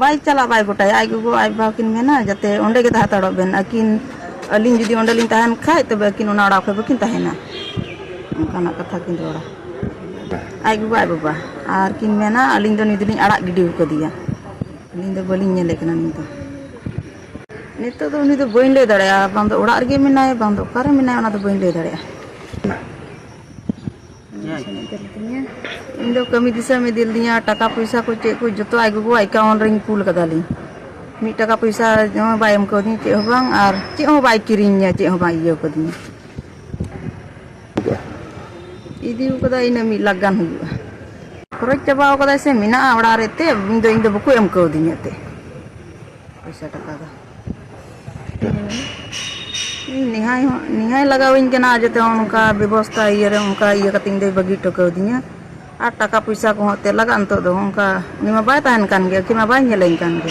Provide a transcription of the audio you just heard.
ᱵᱟᱭ ᱪᱟᱞᱟᱜ ᱵᱟᱭ ᱜᱚᱴᱟᱭᱟ ᱟᱡ ᱜᱚᱜᱚ ᱟᱡ ᱵᱟᱵᱟ ᱠᱤᱱ ᱢᱮᱱᱟ ᱡᱟᱛᱮ ᱚᱸᱰᱮ ᱜᱮ ᱛᱟᱦᱮᱸ ᱦᱟᱛᱟᱲᱚᱜ ᱵᱮᱱ ᱟᱹᱠᱤᱱ ᱟᱹᱞᱤᱧ ᱡᱩᱫᱤ ᱚᱸᱰᱮ ᱞᱤᱧ ᱛᱟᱦᱮᱱ ᱠᱷᱟᱡ ᱛᱚᱵᱮ ᱟᱹᱠᱤᱱ ᱚᱱᱟ ᱚᱲᱟᱜ ᱠᱷᱚᱡ ᱵᱟᱹᱠᱤᱱ ᱛᱟᱦᱮᱱᱟ ᱚᱱᱠᱟᱱᱟᱜ ᱠᱟᱛᱷᱟ ᱠᱤᱱ ᱨᱚᱲᱟ ᱟᱡ ᱜᱚᱜᱚ ᱟᱡ ᱵᱟᱵᱟ ᱟᱨ ᱠᱤᱱ ᱢᱮᱱᱟ ᱟᱹᱞᱤᱧ ᱫᱚ ᱱᱩᱭ ᱫᱚᱞᱤᱧ ᱟᱲᱟᱜ ᱜᱤᱰᱤ ᱟᱠᱟᱫᱮᱭᱟ ᱟᱹᱞᱤᱧ ᱫᱚ ᱵᱟᱹᱞᱤᱧ ᱧᱮᱞᱮ ᱠᱟᱱᱟ ᱱᱩᱭ ᱫᱚ ᱱᱤᱛᱚᱜ ᱫᱚ ᱩᱱᱤ ᱫᱚ ᱵᱟᱹᱧ ᱞᱟᱹᱭ ᱫᱟᱲᱮᱭᱟᱜᱼᱟ ᱵᱟᱝ ᱫᱚ ᱚᱲᱟᱜ ᱨᱮᱜᱮ ᱢᱮᱱᱟᱭ ᱵᱟᱝ ᱫᱚ ᱚᱠᱟᱨᱮ ᱢᱮᱱᱟᱭ ᱚᱱᱟ ᱫᱚ ᱵᱟᱹᱧ ᱞᱟᱹᱭ ᱫᱟᱲᱮᱭᱟᱜᱼᱟ ᱤᱧ ᱫᱚ ᱠᱟᱹᱢᱤ ᱫᱤᱥᱚᱢ ᱤᱫᱤ ᱞᱤᱫᱤᱧᱟ ᱴᱟᱠᱟ ᱯᱚᱭᱥᱟ ᱠᱚ ᱪᱮᱫ ᱠᱚ ᱡᱚᱛᱚ ᱟᱡ ᱜᱚᱜᱚ ᱮᱠᱟᱣᱩᱱᱴ ᱨᱤᱧ ᱠᱩᱞ ᱠᱟᱫᱟᱞᱤᱧ ᱢᱤᱫ ᱴᱟᱠᱟ ᱯᱚᱭᱥᱟ ᱦᱚᱸ ᱵᱟᱭ ᱮᱢ ᱠᱟᱣᱫᱤᱧ ᱪᱮᱫ ᱦᱚᱸ ᱵᱟᱝ ᱟᱨ ᱪᱮᱫ ᱦᱚᱸ ᱵᱟᱭ ᱠᱤᱨᱤᱧᱟ ᱪᱮᱫ ᱦᱚᱸ ᱵᱟᱭ ᱤᱭᱟᱹ ᱠᱟᱫᱤᱧᱟ ᱤᱫᱤ ᱠᱟᱫᱟ ᱤᱱᱟᱹ ᱢᱤᱫ ᱞᱟᱠᱷ ᱜᱟᱱ ᱦᱩᱭᱩᱜᱼᱟ ᱠᱷᱚᱨᱚᱪ ᱪᱟᱵᱟ ᱠᱟᱫᱟᱭ ᱥᱮ ᱢᱮᱱᱟᱜᱼᱟ ᱚᱲᱟᱜ ᱨᱮ ᱛᱮ ᱤᱧ ᱫᱚ ᱤᱧ ᱫᱚ ᱵᱟᱠᱚ ᱮᱢ ᱠᱟᱣᱫᱤᱧᱟ ᱛᱮ ᱯᱚᱭᱥᱟ ᱴᱟᱠᱟ ᱫᱚ ᱱᱮᱦᱟᱭ ᱦᱚᱸ ᱱᱮᱦᱟᱭ ᱞᱟᱜᱟᱣᱟᱹᱧ ᱠᱟᱱᱟ ᱟᱨ ᱡᱟᱛᱮ ᱚᱱᱠᱟ ᱵᱮᱵᱚᱥᱛᱟ ᱤᱭᱟᱹᱨᱮ ᱚᱱᱠᱟ ᱤᱭᱟᱹ ᱠᱟᱛᱮ ᱤᱧᱫᱚᱭ ᱵᱟᱹᱜᱤ ᱦᱚᱴᱚ ᱠᱟᱣᱫᱤᱧᱟ ᱟᱨ ᱴᱟᱠᱟ ᱯᱚᱭᱥᱟ ᱠᱚᱦᱚᱸ ᱮᱱᱛᱮᱫ ᱞᱟᱜᱟᱜᱼᱟ ᱱᱤᱛᱚᱜ ᱫᱚ ᱚᱱᱠᱟ ᱩᱱᱤ ᱢᱟ ᱵᱟᱭ ᱛᱟᱦᱮᱱ ᱠᱟᱱ ᱜᱮᱭᱟ ᱩᱱᱤ ᱢᱟ ᱵᱟᱭ ᱧᱮᱞᱮᱧ ᱠᱟᱱ ᱜᱮ